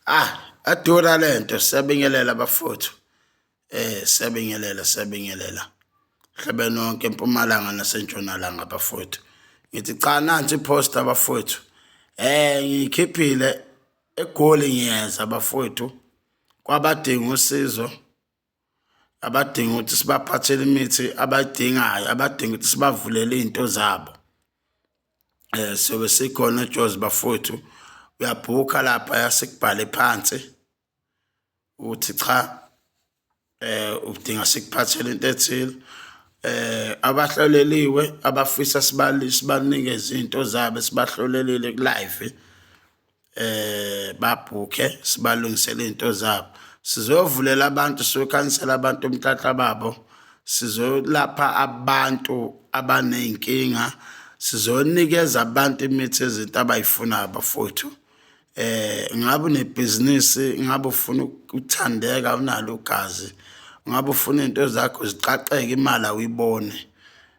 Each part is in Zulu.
ah adura lento siyabingelela bafuthu eh siyabingelela siyabingelela hlebe nonke empumalanga nasentshonalanga bafuthu ngithi cha nansi post abafuthu eh ngikhiphile egoli ngiyeza bafuthu kwabadinga usizo abadinga ukuthi sibaphathele imithi abayidingayo abadinga ukuthi sibavulele iy'nto zabo um sobe sikhona ejozi bafowethu uyabhukha lapha yasikubhale phansi ukuthi cha eh udinga sikuphathele into ethile eh abahloleliwe abafisa sibali sibanike izinto zabo sibahlolelile ku live eh babhukhe sibalungisele izinto zabo sizovulela abantu sokhansela abantu umthatha babo sizolapha abantu abanezinkinga sizonikeza abantu imithi ezinto abayifunayo bafowethu eh ngabe unebhizinisi ngabe ufuna ukuthandeka unalo ugazi ngabe ufuna izinto zakho ziqaqeke imali awuyibone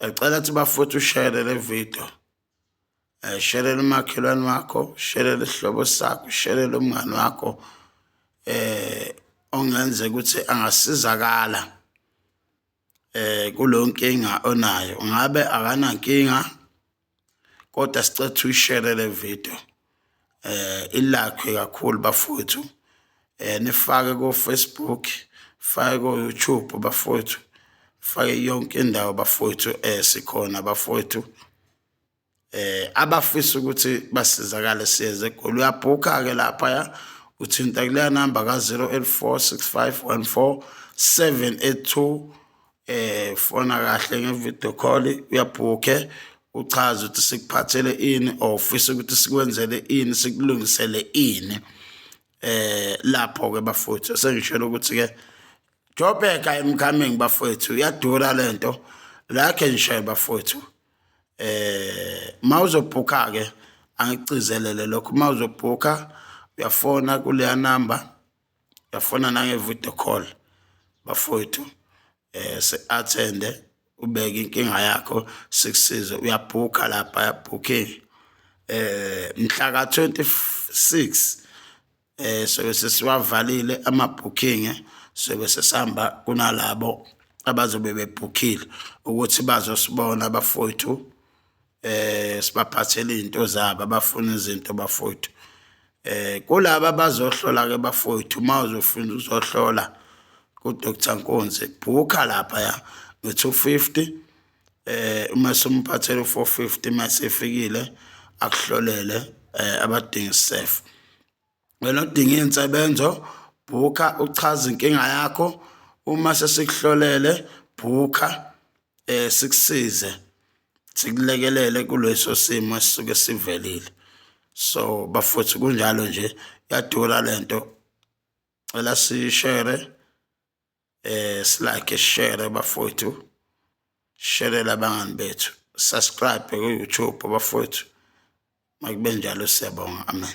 Ngicela ukuthi bafowethu ushere le video. Eh sherele umakhelwane wakho, sherele isihlobo sakho, sherele umngane wakho eh ongenze ukuthi angasizakala eh kulonkinga onayo. Ngabe akanankinga kodwa sicela ukuthi uyishere le video eh ilakhwe kakhulu bafowethu eh nifake ko Facebook fake ko YouTube bafowethu fake yonke indawo bafowethu eh sikhona bafowethu eh abafisa ukuthi basizakale siyeze egoli uyabhukha ke lapha ya uthinta kuleya namba ka 0846514 782 eh fona kahle ngevideo call uyabhukhe uchaze ukuthi sikuphathele ini or ufisa ukuthi sikwenzele ini sikulungisele ini eh lapho ke bafowethu sengishela ukuthi ke Joburg I'm coming bafowethu iyadura lento la ke ngishela bafowethu eh mawuzobhukha ke angicizelele lokho mawuzobhukha uyafona kuleya number yafona nange-video call bafowethu eh se-athende ubeke inkinga yakho sikusize uyabhukha lapha yabhooking eh mhla ka-26 eh sobe sesiwavalile ama-booking sobe sesihamba kunalabo abazobe bebhukhile ukuthi bazosibona abafowethu eh sibaphathela izinto zabo abafuna izinto bafowethu eh kulabo abazohlola ke bafowethu uma uzofuna uzohlola kuDr Nkonzi bhukha lapha ya ngo-250 eh uma simphathela u-450 uma sefikile akuhlolele eh abadinga isef Wena odinga iy'nsebenzo bhukha uchaze inkinga yakho uma sesikuhlolele bhukha um sikusize sikulekelele kuleso simo esisuke sivelile so bafuthi kunjalo nje yadura le nto cela sishere eh silike share bafowethu share labangani bethu subscribe ku-youtube bafowethu makube njalo siyabonga amen